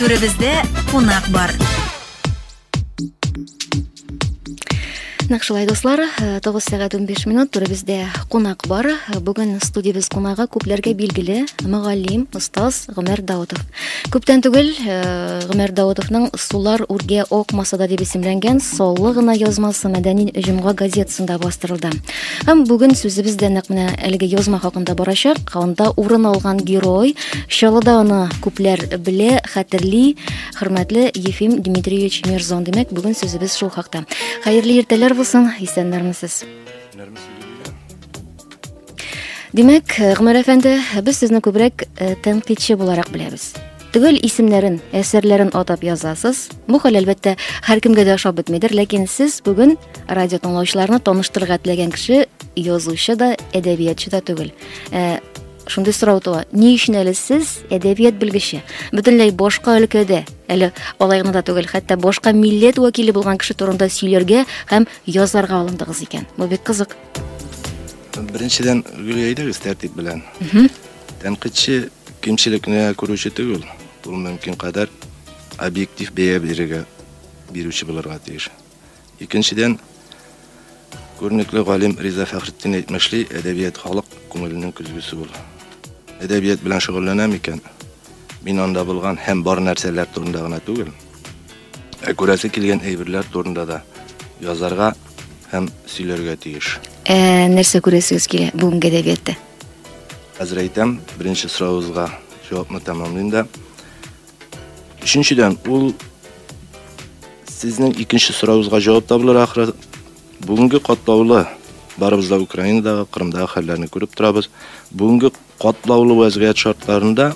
Түребездә кунак бар. Нәкъ шулай дуслар, 9 э, сәгать 15 минут турыбызда кунак бар. Э, бүген студиябез кунагы күпләргә билгеле мөгаллим, остаз Гомәр Даутов. Күптән түгел э, Гомәр Даутовның Сулар үргә акмаса да дип исемләнгән Соллы гына язмасы мәдәни җомга газетасында бастырылды. Һәм бүген сүзебез дә нәкъ менә әлеге язма хакында барачак. Анда урын алган герой Чаллыда аны күпләр белә, хәтерли. Хөрмәтле Ефим Дмитриевич Мирзон, димәк, бүген сүзебез шул хакта. Хәерле иртәләр булсын, исәннәрмесез? Димәк, Гомәр әфәнде, без сезне күбрәк э, тәнкыйтьче буларак беләбез. Төгәл исемнәрен, әсәрләрен атап язасыз. Бу хәл әлбәттә һәркемгә дә ошап бетмидер, ләкин сез бүген радио тыңлаучыларны таныштырырга теләгән кеше язучы да, әдәбиятчы да түгел. Э, Шундый сорау туа. Ни өчен әле сез әдәбият белгече? Бөтенләй башка өлкәдә, әле алай гына да түгел, хәтта башка милләт вәкиле булган кеше турында сөйләргә һәм язарга алындыгыз икән. Бу бик кызык. Беренчедән, Гөлия әйдәгез тәртип белән. Тәнкыйтьче кимчелекне күрүче түгел. Ул мөмкин кадәр объектив бәя бирергә бирүче булырга тиеш. Икенчедән, күренекле галим Риза Фәхретдин әйтмешли, әдәбият халык күңеленең көзгесе ул. Әдәбият белән шөгыльләнәм икән, мин анда булган һәм бар нәрсәләр турында гына түгел, ә күрәсе килгән әйберләр турында да язарга һәм сөйләргә тиеш. Ә нәрсә күрәсегез килә бүгенге әдәбиятта? Хәзер әйтәм, беренче соравыгызга җавапны тәмамлыйм да. Өченчедән, ул сезнең икенче сорауыгызга җавап табылыр ахры. Бүгенге катлаулы барыбыз да Украинадагы, Кырымдагы хәлләрне күреп торабыз. Бүгенге катлаулы вәзгыять шартларында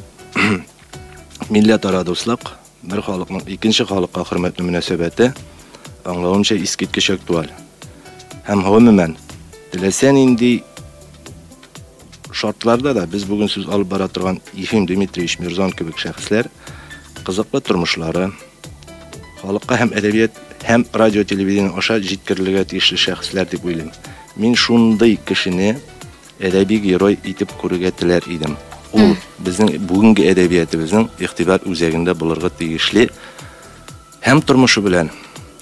милләтара дуслык, бер халыкның икенче халыкка хөрмәтле мөнәсәбәте аңлавымча искиткеч актуаль. Һәм гомумән, теләсә нинди шартларда да без бүген сүз алып бара торган Ефим Дмитриевич Мирзон кебек шәхесләр кызыклы тормышлары, халыкка һәм әдәбият һәм радио телевидение аша җиткерелергә тиешле шәхесләр дип уйлыйм. Мин шундый кешене әдәби герой итеп күрергә теләр идем. Ул безнең бүгенге әдәбиятыбызның игътибар үзәгендә булырга тиешле һәм тормышы белән,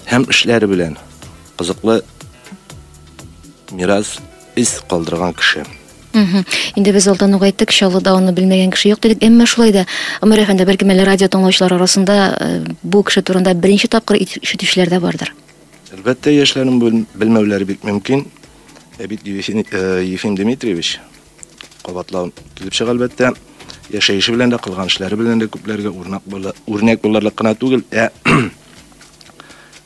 һәм эшләре белән кызыклы мирас Эз калдырган кеше. Мхм. Инде без алдан ук әйттек, Чаллыда аны белмәгән кеше юк дидек. Әмма шулай да, Омар әфәнде, бәлкем әле радио тыңлаучылар арасында э, бу кеше турында беренче тапкыр ишетүчеләр дә бардыр. Әлбәттә, яшьләрнең белмәүләре бик мөмкин. Ә бит Ефим э, Дмитриевич кабатлау килеп чыга, әлбәттә, яшәеше белән дә, кылган эшләре белән дә күпләргә үрнәк булырлык кына түгел, ә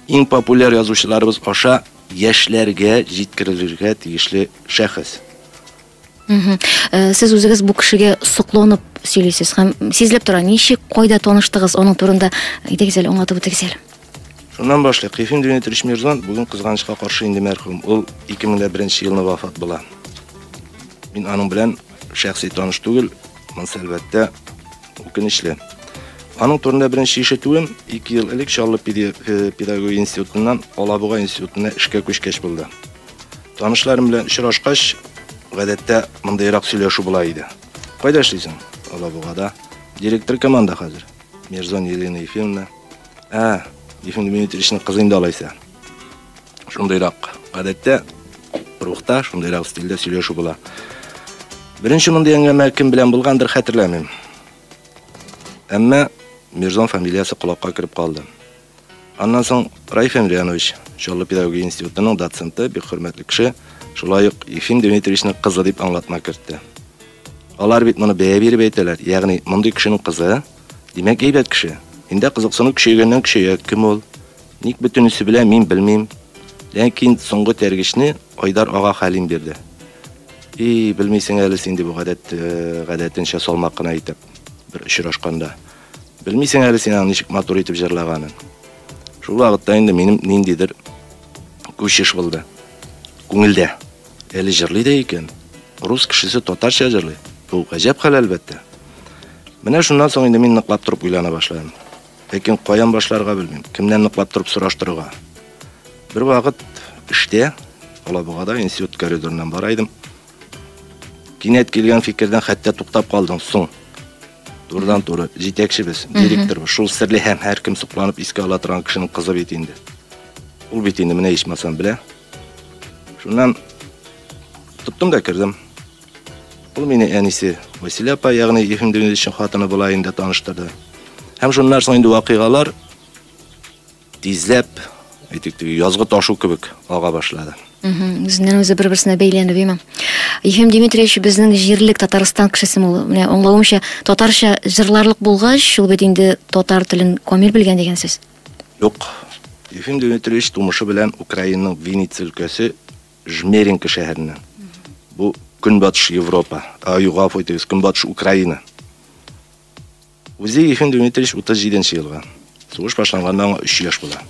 иң популяр язучыларыбыз аша Яшьләргә җиткерелергә тиешле шәхес. Мхм. Э, сез үзегез бу кешегә сокланып сөйлисез һәм сизелеп тора, ничек, кайда таныштыгыз, аның турында әйтегез әле, аңлатып үтегез әле. Шуннан башлыйк. Ефим Дмитриевич Мирзон бүген кызганычка каршы инде мәрхүм. Ул 2001 елны вафат була. Мин аның белән Шәхси таныш түгел, монысы әлбәттә үкенечле. Аның турында беренче ишетүем 2 ел элек Чаллы э, педагогия институтыннан Алабуга институтына эшкә күчкәч булды. Танышларым белән очрашкач, гадәттә мондыйрак сөйләшү була иде. Кайда эшлисең? Алабугада. Директор команда хәзер. Мирзон Елена Ефимовна. Ә, Ефим Дмитриевичның кызы инде алайса. Шундыйрак, гадәттә, рухта, шундыйрак стильдә сөйләшү була. Беренче мондый әңгәмә кем белән булгандыр, хәтерләмим. Әмма Мирзон фамилиясе колакка кереп калды. Аннан соң Раиф Эмрянович, Чаллы педагогия институтының доценты, бик хөрмәтле кеше, шулай ук Ефим Дмитриевичның кызы дип аңлатма кертте. Алар бит моны бәя биреп әйтәләр, ягъни мондый кешенең кызы, димәк әйбәт кеше. Инде кызыксыну көчәйгәннән көчәя, кем ул, Ник бөтенесе белән мин белмим, ләкин соңгы тәргешне Айдар ага Хәлим бирде. И, белмисең әле син дип гадәт э, гадәтенчә салмак кына итеп бер очрашканда. Белмисең әле син аны ничек матур итеп җырлаганын. Шул вакытта инде минем ниндидер күчеш булды. Күңелдә. Әле җырлый да икән. Рус кешесе татарча җырлый. Бу гаҗәп хәл әлбәттә. Менә шуннан соң инде мин ныклап торып уйлана башладым. Ләкин каян башларга белмим, кемнән ныклап торып сораштырырга. Бервакыт эштә, Алабугада институт коридорыннан бара идем. Кинәт килгән фикердән хәтта туктап калдым, соң. Турыдан туры, җитәкчебез, директор, шул серле һәм һәркем сокланып искә ала торган кешенең кызы бит инде. Ул бит инде менә ичмасам белә. Шуннан тоттым да кердем. Ул мине әнисе Василия апа, ягъни Ефим Демидовичның хатыны була инде таныштырды. Һәм шуннан соң инде вакыйгалар тизләп, әйтик, язгы ташу кебек ага башлады. Үзеннән үзе бер-берсенә бәйләнеп имам. Ефим Дмитриевич безнең җирлек Татарстан кешесе ул. Менә аңлавымча, татарча җырларлык булгач, шул бит инде татар телен камил белгән дигән сүз. Юк. Ефим Дмитриевич тумышы белән Украинаның Винница өлкәсе Жмеринка шәһәреннән. Бу Көнбатыш Европа, ай, гафу итегез, Көнбатыш Украина. Үзе Ефим Дмитриевич 37 нче елга. Сугыш башланганга аңа 3 яшь була.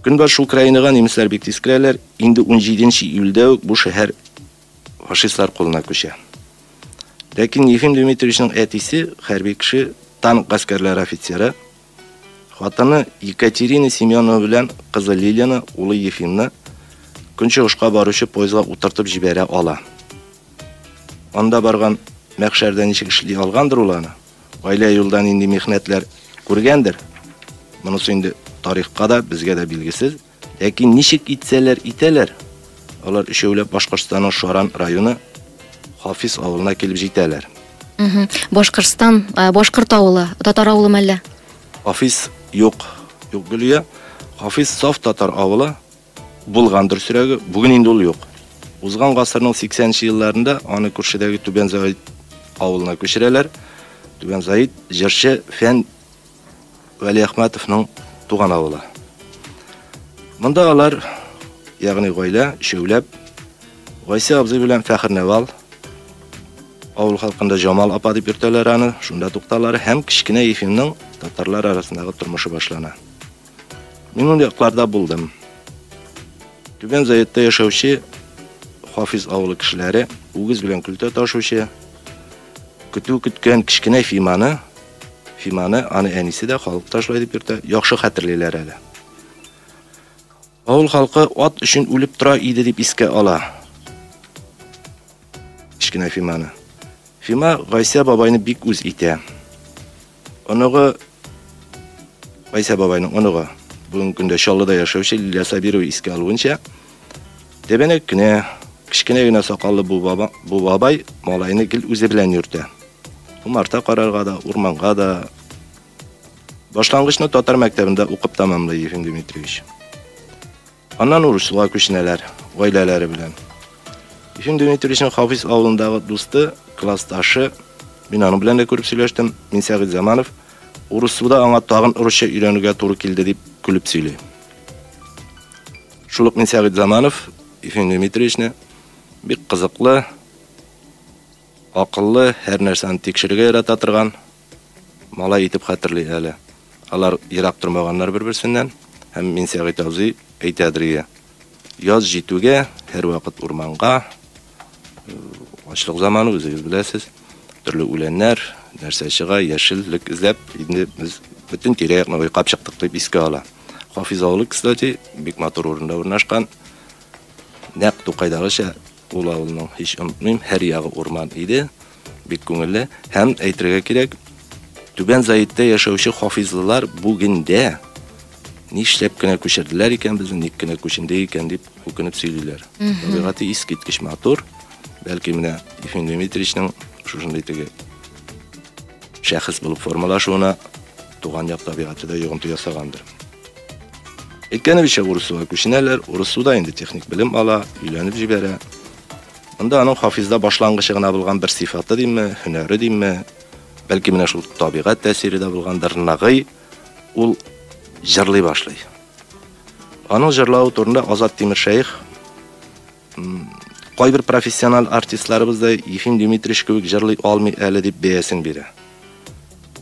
Көнбатыш Украинага немецлар бик тиз керәләр. Инде 17 нче июльдә үк бу шәһәр фашистлар кулына күчә. Ләкин Ефим Дмитриевичның әтисе хәрби кеше, танк гаскәрләре офицеры. Хатыны Екатерина Семенова белән кызы Лилияне, улы Ефимны көнчыгышка баручы поездга утыртып җибәрә ала. Анда барган мәхшәрдә ничек эшли алгандыр ул аны? Гаилә юлда нинди михнәтләр күргәндер? Монысы инде тарихка да, безгә дә билгесез. Ләкин ничек итсәләр итәләр, алар өчәүләп Башкортстанның Шаран районы Хафиз авылына килеп җитәләр. Мгм. Башкортстан, ә, башкорт авылы, татар авылымы әллә? Хафиз юк, юк Гөлия. Хафиз саф татар авылы. Булган дөресрәге, бүген инде ул юк. Узган гасырның 80 нче елларында аны күршедәге Түбән Заид авылына күчерәләр. Түбән Заид җырчы, фән Вәлиәхмәтовның туган авылы. Монда алар, ягъни гаилә, өчәүләп, Гайсә абзый белән Фәхерневал, авыл халкында Җамал апа дип йөртәләр аны, шунда тукталар һәм кечкенә Ефимның татарлар арасындагы тормышы башлана. Мин ул якларда булдым. Түбән Заетта яшәүче Хафиз авылы кешеләре үгез белән көлтә ташучы, көтү көткән кечкенә Фиманы Фиманы аны әнисе дә халык та шулай дип йөртә, яхшы хәтерлиләр әле. Авыл халкы ат өчен үлеп тора иде дип искә ала. Кечкенә Фиманы. Фима Гайсә бабайны бик үз итә. Оныгы Гайсә бабайның оныгы бүгенге көндә Чаллыда яшәүче Лилия Сабирова искә алуынча, Тәбәнәк кенә, кечкенә генә сакаллы бу баба, бу бабай малайны гел үзе белән йөртә. Умарта карарга да, урманга да. Башлангычны татар мәктәбендә укып тәмамлый Ефим Дмитриевич. Аннан Урыслуга күченәләр, гаиләләре белән. Ефим Дмитриевичның Хафиз авылындагы дусты, классташы, мин аның белән дә күреп сөйләштем, мин Сәгыйть Заманов, Урыслуда аңа тагын урысча өйрәнергә туры килде дип көлеп сөйли. Шул ук мин Сәгыйть Заманов Ефим Дмитриевичны бик кызыклы, акыллы, һәр нәрсәне тикшерергә ярата торган малай итеп хәтерли әле. Алар ерак тормаганнар бер-берсеннән, һәм мин Сәгыйть абзый әйтәдер иде. Яз җитүгә, һәрвакыт урманга, Ачлык заманы үзегез беләсез. Төрле үләннәр, нәрсә чыга, яшеллек эзләп, инде без бөтен тирә-якны уйкап чыктык дип искә ала. Хафиз авылы, кстати, бик матур урында урнашкан. Нәкъ Тукайдагыча ул авылның һич онытмыйм, һәр ягы урман иде. Бик күңелле һәм әйтергә кирәк, Түбән Заиттә яшәүче хафизлылар бүгендә нишләп кенә күчерделәр икән безне, ник кенә күченде икән дип үкенеп сөйлиләр. Табигате искиткеч матур. Бәлки менә Ефим Дмитриевичның шушындый теге шәхес булып формалашуына туган як табигаты да йогынты ясагандыр. Әйткәнебезчә, Урысуга күченәләр, Урысуда инде техник белем ала, өйләнеп җибәрә. Монда аның Хафизда башлангычы гына булган бер сыйфаты димме, һөнәре димме, бәлки менә шул табигать тәэсире дә булгандыр, Нагый ул җырлый башлый. Аның җырлавы турында Азат Тимершәех кайбер профессиональ артистларыбыз да Ефим Дмитриевич кебек җырлый алмый әле дип бәясен бирә.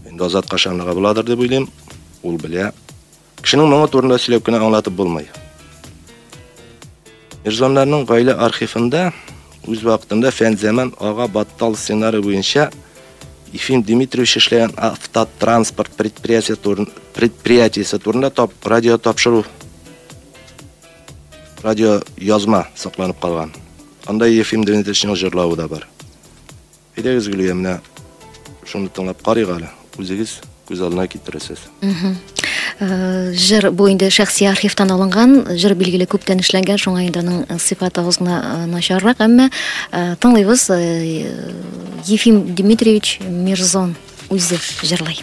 Инде Азат кашанлыга буладыр дип уйлыйм. Ул белә, Кешенең моңы турында сөйләп кенә аңлатып булмый. Эрзоннарның гаилә архивында үз вакытында Фәнзәман ага Баттал сценары буенча Ефим Дмитриевич эшләгән автотранспорт предприятие турын, предприятиесе турында тап, радио тапшыру радио язма сакланып калган. Анда Ефим Дмитриевичның җырлавы да бар. Әйдәгез, Гөлия, менә шуны тыңлап карыйк әле. Үзегез күз алдына китерәсез. Э, жыр бу инде шәхси архивтан алынган жыр билгеле күптән эшләнгән шуңа инде аның э, сыйфаты аз гына э, начаррак әмма тыңлыйбыз ефим дмитриевич мирзон үзе жырлый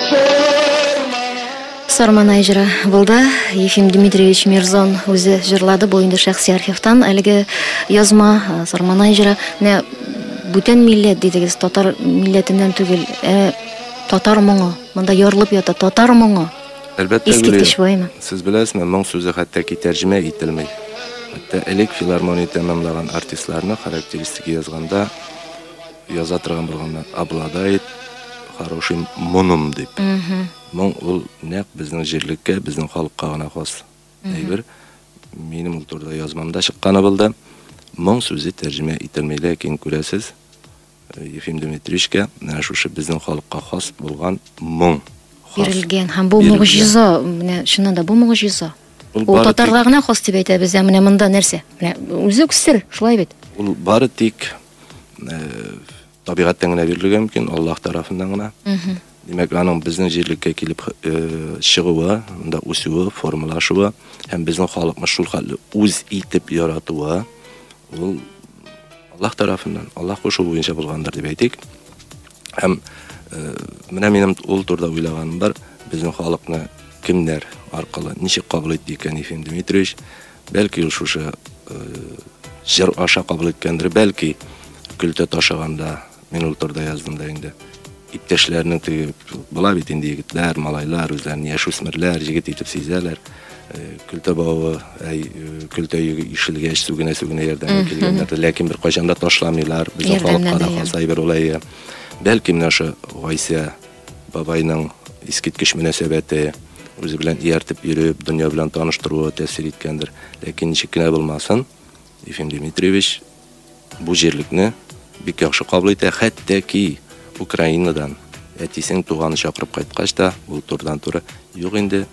Сарманай җыры булды. Ефим Дмитриевич Мирзон үзе җырлады. Бу инде шәхси архивтан әлеге язма э, Сарманай җыры. Менә бүтән милләт дидегез, татар милләтеннән түгел. Ә татар моңы. Монда ярылып ята татар моңы. Әлбәттә, Искиткеч ваймы? Сез беләсезме, моң сүзе хәтта ки тәрҗемә ителми. Хәтта элек филармония тәмамлаган артистларны характеристика язганда яза торган булганнан обладает хорошим моном дип. Моң ул нәкъ безнең җирлеккә, безнең халыкка гына хас әйбер. Минем ул турыда язмамда чыкканы булды. Моң сүзе тәрҗемә ителми, ләкин күрәсез, э, Ефим Дмитриевичка менә шушы безнең халыкка хас булган моң хас. Бирелгән һәм бу Бирелгән. мөгъҗиза, менә чыннан да бу мөгъҗиза. Ул Ул бары татарга гына хас дип әйтәбез, ә менә монда нәрсә? Менә үзе үк сер, шулай бит. Ул бары тик табигатьтән генә бирелергә мөмкин, Аллаһ тарафыннан гына. Димәк, аның безнең җирлеккә килеп чыгуы, монда үсүе, формалашуы һәм безнең халыкны шул хәтле үз итеп яратуы ул Аллаһ тарафыннан, Аллаһ кушуы буенча булгандыр дип әйтик. Һәм менә минем ул турда уйлаганым бар, безнең халыкны кемнәр аркылы ничек кабул итте икән Ефим Дмитриевич? Бәлки ул шушы җыр аша кабул иткәндер, бәлки көлтә ташыганда мин ул турыда яздым да инде. Иптәшләрнең теге була бит инде егетләр, малайлар үзләрен яшүсмерләр, җегет итеп сизәләр. Көлтә бавы, әй, көлтә йөге ишелгәч, сүгенә-сүгенә ярдәмгә килгәннәр. Ләкин бер кайчан да ташламыйлар. Без уфалып кара калса әйбер ул әйе. Бәлки менә ошо Гайсә Бабайның искиткеч мөнәсәбәте, үзе белән ияртеп йөреп, дөнья белән таныштыруы тәэсир иткәндер. Ләкин ничек кенә булмасын, Ефим Дмитриевич бу җирлекне бик яхшы кабул итә, хәтта ки Украинадан әтисен туганы чакырып кайткач та, ул турыдан-туры, юк инде,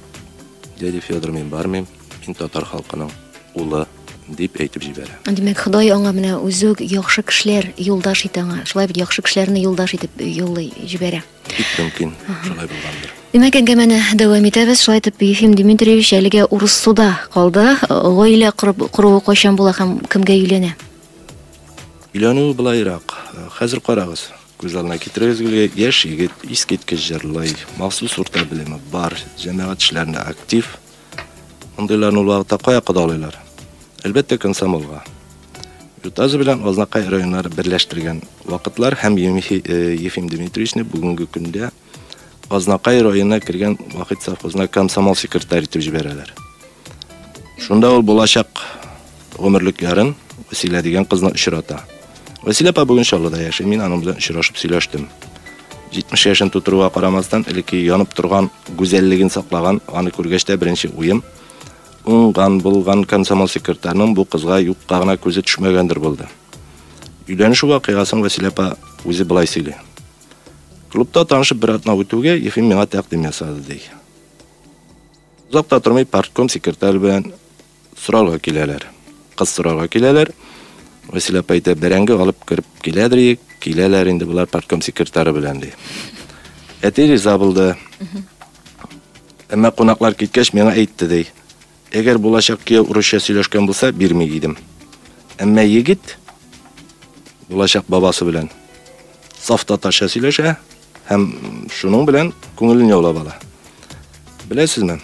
дядя Федор, мин бармыйм. Мин татар халкының улы, дип әйтеп җибәрә. Димәк, Ходай аңа менә үзе үк яхшы кешеләр юлдаш итә аңа. Шулай бит яхшы кешеләрне юлдаш итеп юллый җибәрә. Бик мөмкин, шулай булгандыр. Димәк, әңгәмәне дәвам итәбез. Шулай итеп, Ефим Дмитриевич әлегә урыс суда калды. Гаилә корып куруы кайчан була һәм кемгә өйләнә? Өйләнү былайрак. Хәзер карагыз, күз алдына китерегез гел яшь егет, искиткеч җырлый, махсус урта белеме бар, җәмәгать эшләрендә актив. Мондыйларны ул вакытта кая кодалыйлар? Әлбәттә, комсомолга. Ютазы белән Азнакай районнары берләштергән вакытлар һәм э, Ефим Дмитриевичны бүгенге көндә Азнакай районына кергән вакыт совхозына комсомол секретарь итеп җибәрәләр. Шунда ул булачак Гомерлекләрен Вәсилә дигән кызны очрата. Вәсилә апа бүген Чаллыда яши, мин аның белән очрашып сөйләштем. 70 яшен тутыруга карамастан, элекке янып торган гүзәллеген саклаган, аны күргәч тә беренче уем уңган булган комсомол секретарьның бу кызга юкка гына күзе төшмәгәндер булды. Өйләнешү вакыйгасын Василия апа үзе былай сөйли. Клубта танышып бер атна үтүгә Ефим миңа тәкъдим ясады ди. Озак та тормый партком секретарь белән Сорарга киләләр. Кыз сорарга киләләр. Василә апа әйтә, бәрәңге алып кереп киләдер ек, киләләр инде болар партком секретары белән, ди. Әти риза булды. Әмма кунаклар киткәч, миңа әйтте, ди. Әгәр булачак кияү урысча сөйләшкән булса, бирми идем. Әмма егет булачак бабасы белән саф татарча сөйләшә. Һәм шуның белән күңелен яулап ала. Беләсезме?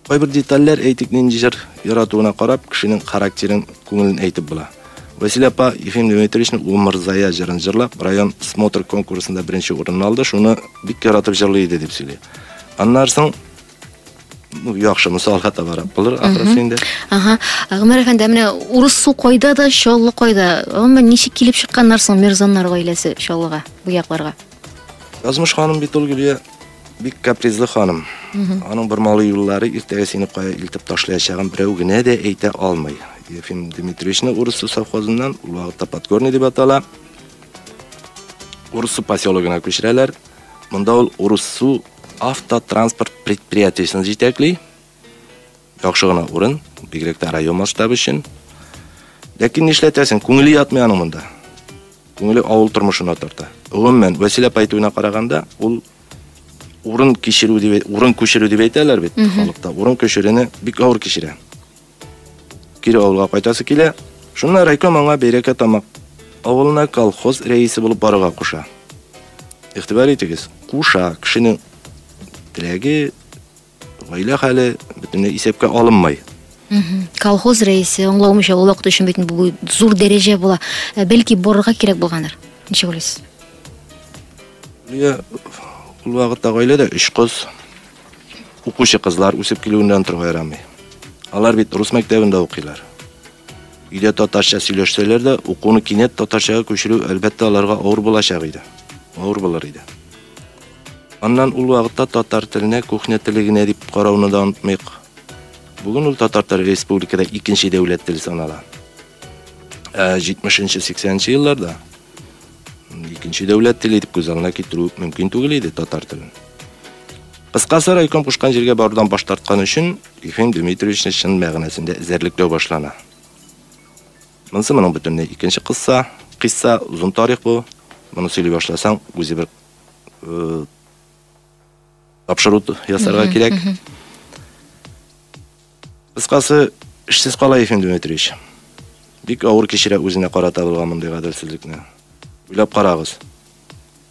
Кайбер детальләр әйтик нинди җыр яратуына карап, кешенең характерын, күңелен әйтеп була. Василий апа Ефим Дмитриевичның Ул мырзая җырын җырлап, район смотр конкурсында беренче урынны алды, шуны бик яратып җырлый иде дип сөйли. Аннан соң ну яхшы мысал хата барак булыр ахрысы инде ага гомер әфәнде менә урыс су кайда да чаллы кайда гомумән ничек килеп чыкканнар соң мирзаннар гаиләсе чаллыга бу якларга язмыш ханым бит ул гөлия бик капризлы ханым аның бер малы юллары иртәгә сине кая илтеп ташлаячагын берәү генә дә әйтә алмый ефим дмитриевичны урыс су совхозыннан ул вакытта подгорный дип атала урыс су поселогына күчерәләр Монда ул Урыссу автотранспорт предприятиесен җитәкли. Яхшы гына урын, бигрәк тә район масштабы өчен. Ләкин нишләтәсең, күңеле ятмый аның монда. Күңеле авыл тормышына тарта. Гомумән, Василий апа әйтүенә караганда, ул урын кичерү дип, урын күчерү дип әйтәләр бит халыкта. Урын күчерүне бик авыр кичерә. Кире авылга кайтасы килә. Шунда райком аңа Бәйрәкә тамак авылына колхоз рәисе булып барырга куша. Игътибар итегез, куша, кешенең теләге, гаилә хәле бөтенләй исәпкә алынмый. Колхоз рәисе аңлаумыйча ул вакыт өчен бит бу зур дәрәҗә була. Ә бәлки барырга кирәк булгандыр. Ничек уйлыйсыз? Ул вакытта гаиләдә өч кыз, Укучы кызлар үсеп килүеннән тору ярамый. Алар бит рус мәктәбендә укыйлар. Өйдә татарча сөйләшсәләр дә, укуны кинәт татарчага күчерү, әлбәттә, аларга авыр булачак иде. Авыр булыр иде. Аннан ул вакытта татар теленә кухня теле генә дип карауны да онытмыйк. Бүген ул татар теле республикада икенче дәүләт теле санала. Ә 70 нче 80 нче елларда Икенче дәүләт теле итеп күз аңына китерү мөмкин түгел иде татар телен. Кыскасы райком кушкан җиргә барудан баш тарткан өчен Ефим Дмитриевичны чын мәгънәсендә эзәрлекләү башлана. Монысы моның бөтенләй икенче кысса, кыйсса, озын тарих бу. Моны сөйли башласаң, үзе бер э, тапшыру ясарга кирәк. Кыскасы, эшсез кала Ефим Дмитриевич. Бик авыр кичерә үзенә карата булган мондый гаделсезлекне. Уйлап карагыз.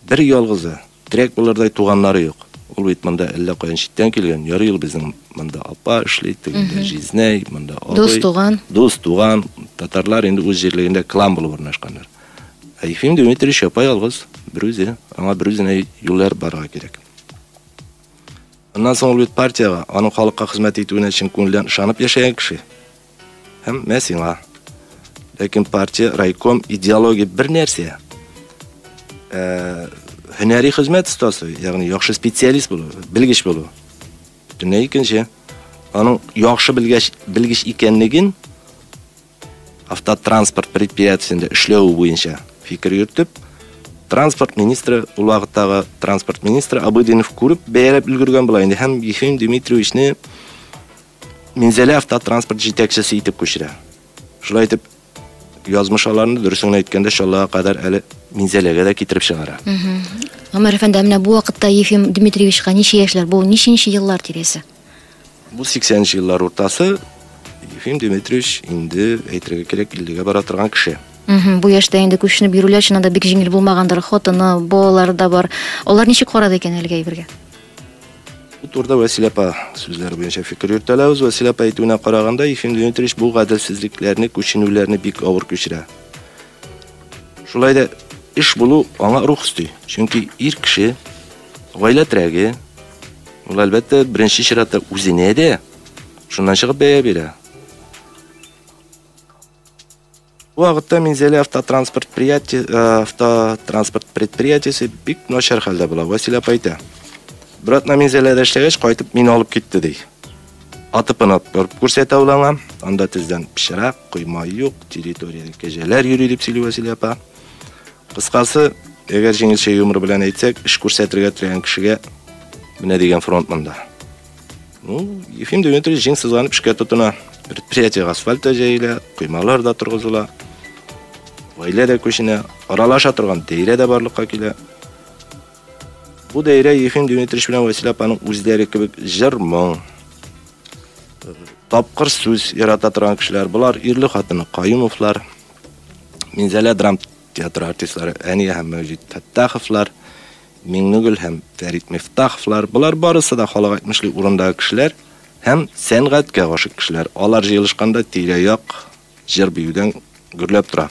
Бер ялгызы, терәк булырдай туганнары юк. Ул бит монда әллә каян читтән килгән. Ярый ул безнең монда апа эшли, тегендә җизнәй, монда абый. Дус туган. Дус туган. Татарлар инде үз җирлегендә клан булып урнашканнар. Ә Ефим Дмитриевич япа-ялгыз, берүзе. Аңа берүзенә юл ярып барырга кирәк. Аннан соң ул бит партиягә, аның халыкка хезмәт итүенә чын күңелдән ышанып яшәгән кеше. Һәм мә сиңа. Ләкин партия, райком, идеология бер нәрсә. Ә, һөнәри хезмәт остасы, ягъни яхшы специалист булу, белгеч булу. Бөтенләй икенче. Аның яхшы белгәч, белгеч икәнлеген Автотранспорт предприятиесендә эшләве буенча фикер йөртеп, транспорт министры, ул вакыттагы транспорт министры Абыдинов күреп, бәяләп өлгергән була инде һәм Ефим Дмитриевичны Минзәлә автотранспорт җитәкчесе итеп күчерә. Шулай итеп, язмыш аларны дөресен әйткәндә Чаллыга кадәр әле Минзәләгә дә китереп чыгара. Гомәр әфәнде, ә менә бу вакытта Ефим Дмитриевичка ничә яшьләр? Бу ничәнче еллар тирәсе? Бу 80 нче еллар уртасы Ефим Дмитриевич инде әйтергә кирәк 50 бара торган кеше. Мхм, бу яшьтә инде күченеп йөрүләр чыннан да бик җиңел булмагандыр. Хатыны, балалары да бар. Алар ничек карады икән әлеге әйбергә? Бу турыда Вәсилә апа сүзләре буенча фикер йөртәләбез. Вәсилә апа әйтүенә караганда, Ефим Дмитриевич бу гаделсезлекләрне, күченүләрне бик авыр кичерә. Шулай да эш булу аңа рух өсти. Чөнки ир кеше Гаилә терәге, ул, әлбәттә, беренче чиратта үзенә дә, шуннан чыгып бәя бирә. Бу вакытта Минзәлә автотранспорт предприятие, э, автотранспорт предприятиесе бик начар хәлдә була, Василия апа әйтә. Братна Минзәләдә эшләгәч, кайтып мине алып китте, ди. Атыпын атып күрсәтә ул аңа. Анда тездән пычрак, койма юк, территориядә кәҗәләр йөри дип сөйли Василия апа. Кыскасы, әгәр җиңелчә юмор белән әйтсәк, эш күрсәтергә теләгән кешегә менә дигән фронт монда. Ну, Ефим Дмитриевич җиң сызланып эшкә тотына. Предприятие асфальт та җәелә, коймалар да торгызыла. Гаилә дә күченә, аралаша торган даирә дә барлыкка килә. Бу даирә Ефим Дмитриевич белән Василия апаның үзләре кебек җыр, моң, тапкыр сүз ярата торган кешеләр. Болар ирле хатыны Каюмовлар. Минзәлә драм театры артистлары Әния һәм Мәүҗит Фәттаховлар, Миңнегөл һәм Фәрит Мифтаховлар, болар барысы да халык әйтмешли урындагы кешеләр һәм сәнгатькә гашык кешеләр. Алар җыелышканда тирә-як җыр-биюдән гөрләп тора.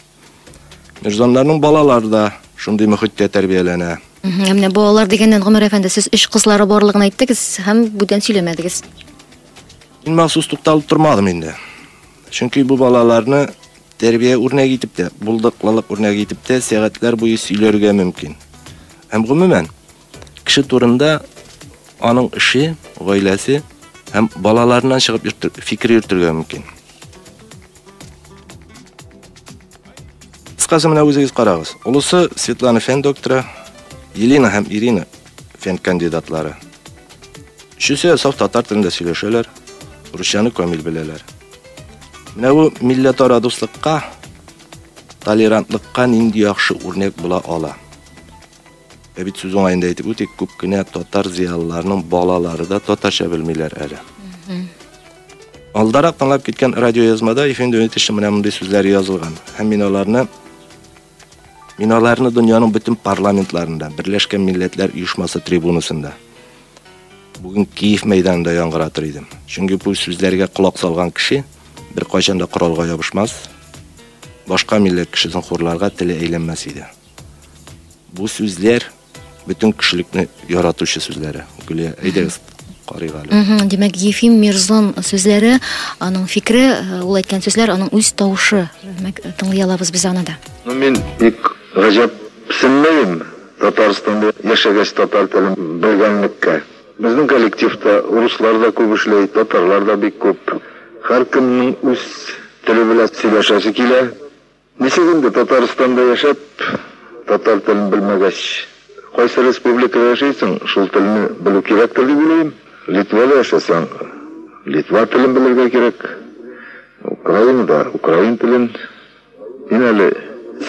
Мирзоннарның балалары да шундый мөхиттә тәрбияләнә. Ә менә балалар дигәннән, Гомәр әфәнде, сез өч кызлары барлыгын әйттегез һәм бүтән сөйләмәдегез. Мин махсус тукталып тормадым инде. Чөнки бу балаларны тәрбия үрнәге итеп тә, булдыклылык үрнәге итеп тә сәгатьләр буе сөйләргә мөмкин. Һәм гомумән, кеше турында аның эше, гаиләсе һәм балаларыннан чыгып йөртер, фикер йөртергә мөмкин. Кыскасы менә үзегез карагыз. Улысы Светлана фән докторы, Елена һәм Ирина фән кандидатлары. Өчесе саф татар телендә сөйләшәләр, русчаны камил беләләр. Менә бу милләтара дуслыкка, толерантлыкка нинди яхшы үрнәк була ала. Ә бит сүз уңаенда әйтеп үтик, күп кенә татар зыялыларының балалары да татарча белмиләр әле. Алдарак тыңлап киткән радиоязмада ефенде үтеше менә мондый сүзләр язылган. Һәм мин аларны Мин аларны дөньяның бөтен парламентларында, Берләшкән Милләтләр Оешмасы трибунасында, бүген Киев мәйданында яңгыратыр идем. Чөнки бу сүзләргә колак салган кеше беркайчан да коралга ябышмас, башка милләт кешесен хурларга теле әйләнмәс иде. Бу сүзләр Бөтен кешелекне яратучы сүзләре. Гөлия, әйдәгез, карыйк әле. Мгм, Димәк, Ефим Мирзон сүзләре, аның фикере, э, ул әйткән сүзләр, аның үз тавышы. Димәк, тыңлый алабыз без аны да. Ну мин бик гаҗәпсенмәем Татарстанда яшәгәч татар телен белгәнлеккә. Безнең коллективта руслар да күп эшләй, татарлар да бик күп. Һәркемнең үз теле белән сөйләшәсе килә. Ничек инде Татарстанда яшәп, татар телен белмәгәч? Кайсы республикада яшәйсең, шул телне белү кирәктер дип уйлыйм. Литвада яшәсәң, литва телен белергә кирәк. Украинада, украин телен. Мин әле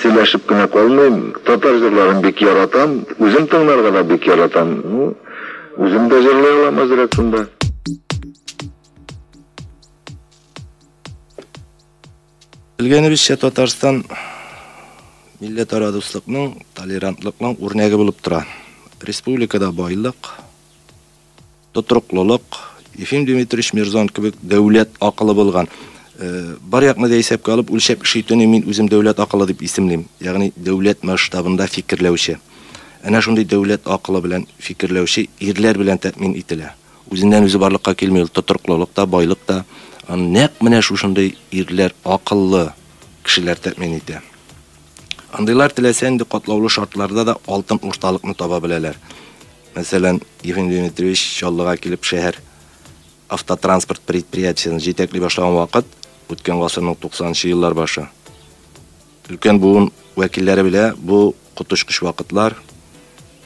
сөйләшеп кенә калмыйм. Татар җырларын бик яратам. Үзем тыңларга да бик яратам. Ну, үзем дә җырлый алам әзрәк шунда. Белгәнебезчә, Татарстан милләтара дуслыкның, толерантлыкның үрнәге булып тора. Республикада байлык, тотрыклылык, Ефим Дмитриевич Мирзон кебек дәүләт акылы булган. Э, бар якны да исәпкә алып, үлчәп эш итүне мин үзем дәүләт акылы дип исемлим. Ягъни дәүләт масштабында фикерләүче. Әнә шундый дәүләт акылы белән фикерләүче ирләр белән тәэмин ителә. Үзеннән-үзе барлыкка килми ул тотрыклылык та, байлык та. Аны нәкъ менә шушындый ирләр, акыллы кешеләр тәэмин итә. Андыйлар теләсә нинди катлаулы шартларда да алтын урталыкны таба беләләр. Мәсәлән, Ефим Дмитриевич Чаллыга килеп шәһәр автотранспорт предприятиесен җитәкли башлаган вакыт, үткән гасырның 90 нчы еллар башы. Өлкән буын вәкилләре белә, бу коточкыч вакытлар.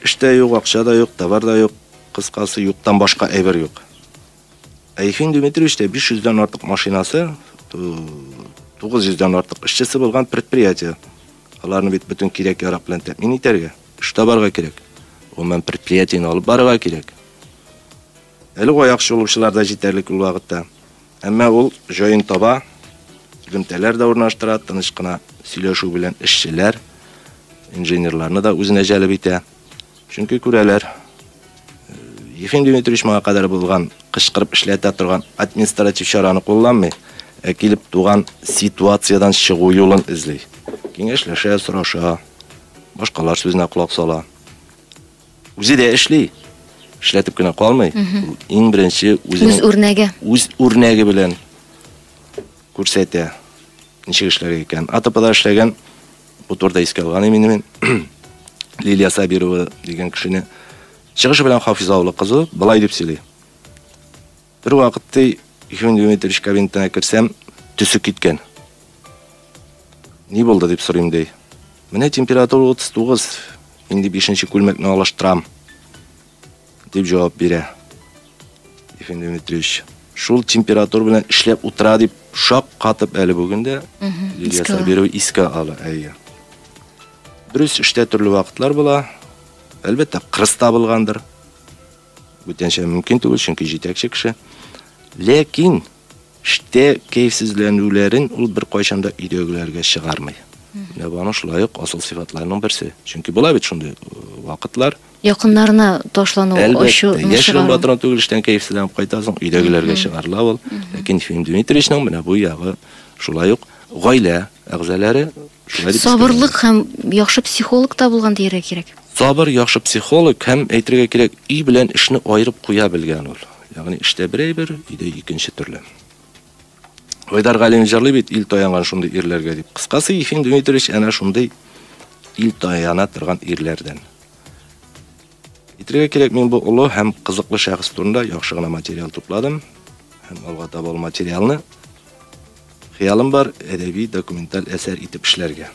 Эш тә юк, акча да юк, товар да юк, кыскасы, юктан башка әйбер юк. Ә Ефим Дмитриевичтә 500 дән артык машинасы, 900 дән артык эшчесе булган предприятие. Аларны бит бөтен кирәк-ярак белән тәэмин итәргә, эш табарга кирәк. Гомумән, предприятиене алып барырга кирәк. Әле аяк чалучылар да җитәрлек ул вакытта. Әмма ул җаен таба, элемтәләр дә урнаштыра, тыныч кына сөйләшү белән эшчеләр, инженерларны да үзенә җәлеп итә. Чөнки күрәләр, Ефим Дмитриевич моңа кадәр булган кычкырып эшләтә торган административ чараны кулланмый, ә килеп туган ситуациядән чыгу юлын эзли. Киңәшләшә, сораша, башкалар сүзенә колак сала. Үзе дә эшли. Эшләтеп кенә калмый. Иң беренче үзенең үз үрнәге. Үз үрнәге белән күрсәтә. Ничек эшләргә икән? АТПда эшләгән бу турыда искә алган имени мин. Лилия Сабирова дигән кешене чыгышы белән Хафиза авылы кызы былай дип сөйли. Бервакыт, ди, Ефим Дмитриевич кабинетына керсәм, төсе киткән. Ни булды, дип сорыйм, ди. Менә температура 39, инде бишенче күлмәкне алыштырам, дип җавап бирә. Ефим Дмитриевич, шул температура белән эшләп утыра дип шак катып әле бүген дә Лилия Сабирова искә ала. Әйе. Дөрес, эштә төрле вакытлар була. Әлбәттә, кырыс табылгандыр. Бүтәнчә мөмкин түгел, чөнки җитәкче кеше. Ләкин эштә кәефсезләнүләрен ул беркайчан да өйдәгеләргә чыгармый. Менә бу аның шулай ук асыл сыйфатларының берсе. Чөнки була бит шундый э, вакытлар. Якыннарына ташлану, ачу, Әлбәттә, яшь чыгару. батырын түгел эштән кәефсезләнеп кайта, соң өйдәгеләргә чыгарыла ул. Ләкин Ефим Дмитриевичның менә бу ягы шулай ук гаилә әгъзалары шулай дип Сабырлык һәм яхшы психолог та булган дияргә кирәк. Сабыр, яхшы психолог һәм, әйтергә кирәк, өй белән эшне аерып куя белгән ул. Ягъни эштә бер әйбер, өйдә икенче төрле. Айдар Галимов җырлый бит, ил таянган шундый ирләргә дип. Кыскасы, Ефим Дмитриевич әнә шундый ил таяна торган ирләрдән. Әйтергә кирәк, мин бу олы һәм кызыклы шәхес турында яхшы гына материал тупладым. Һәм алга таба ул материалны хыялым бар әдәби документаль әсәр итеп эшләргә.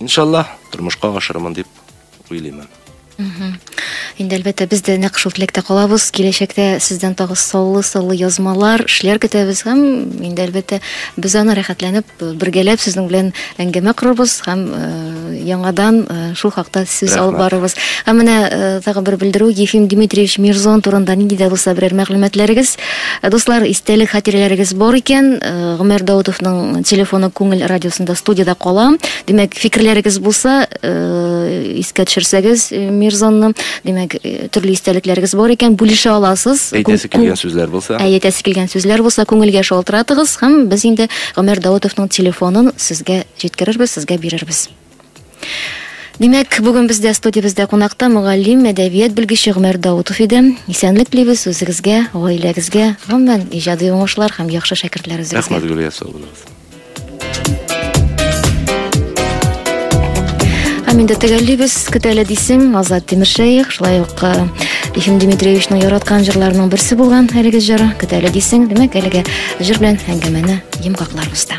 Иншалла, тормышка ашырмын дип уйлыйм. Инде әлбәттә без дә нәкъ шул теләктә калабыз. Киләчәктә сездән тагы саллы саллы язмалар, эшләр көтәбез һәм инде әлбәттә без аны рәхәтләнеп бергәләп сезнең белән әңгәмә корырбыз һәм э, яңадан э, шул хакта сүз алып барырбыз. Һәм менә э, тагы бер белдерү Ефим Дмитриевич Мирзон турында нинди дә булса берәр мәгълүматларыгыз Э, дуслар, истәлек хатирәләрегез бар икән, э, Гомәр Даутовның телефоны күңел радиосында студияда кала. Димәк, фикерләрегез булса, э, искә төшерсәгез Мирзонны, димәк, төрле истәлекләрегез бар икән, бүлешә аласыз. Әйтәсе килгән сүзләр булса. Әйтәсе килгән сүзләр булса, күңелгә шалтыратыгыз һәм без инде Гомәр Даутовның телефонын сезгә җиткерербез, сезгә бирербез. Димәк, бүген бездә студиябездә кунакта мөгаллим, әдәбият белгече Гомәр Даутов иде. Исәнлек телибез үзегезгә, гаиләгезгә, гомумән, иҗади уңышлар һәм яхшы шәкертләр үзегезгә. Рәхмәт, Гөлия, сау булыгыз. Һәм инде төгәллибез, көтәле дисең, Азат Тимершәех, шулай ук э, Ефим Дмитриевичның яраткан җырларының берсе булган әлеге җыры, көтәле дисең, димәк, әлеге җыр белән әңгәмәне йомгакларбыз да.